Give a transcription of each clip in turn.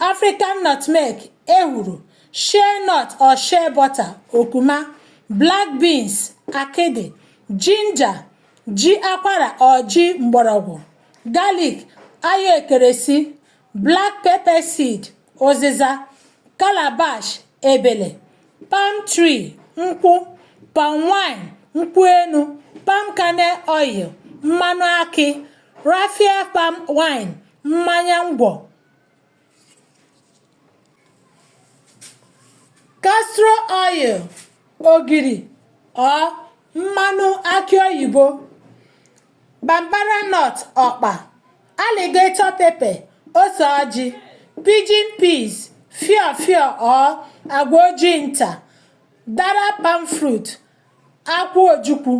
African nutmeg, ehuru, shea nut or shea butter, okuma, black beans, akịdị, ginger, ji akwara or ji mgbọrọgwụ, garlic, ayo ekeresi, black pepper seed, ụzịza, calabash, ebele, palm tree, nkwụ, palm wine, nkwụ enu, palm kernel oil, mmanụ akị, raffia palm wine, mmanya ngwọ, Castor oil, ogiri or mmanụ akị oyibo, bambara nut ọkpa, alligator pepper, ose ọjị, pidgin peas, fiofio or agwa ojii nta, dara palm fruit. akwụ ojukwu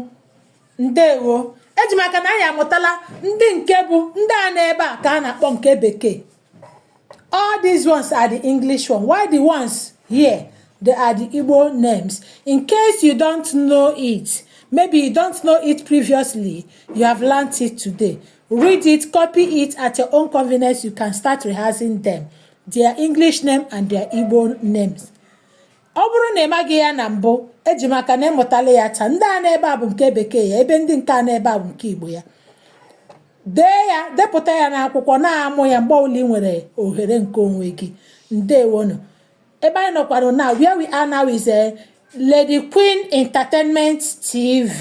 ndewo eji m aka na anyị amụtala ndị nke bụ ndị a n'ebe a ka a na-akpọ nke bekee all these ones are the english one while the ones here they are the igbo names in case you don't know it maybe you don't know it previously you have learnt it today read it copy it at your own convenience you can start rehearsing them their english name and their igbo names Ọ bụrụ na ị maghị ya na mbụ, eji m aka na ị mụtala ya taa. Ndị a n'ebe a bụ nke bekee ya, ebe ndị nke a n'ebe a bụ nke Igbo ya. Dee ya, depụta ya n'akwụkwọ, na-amụ ya mgbe ọbụla ị nwere ohere nke onwe gị. Ndewonu. Ebe anyị nọkwara na where we are now is a eh, Lady Queen Entertainment TV.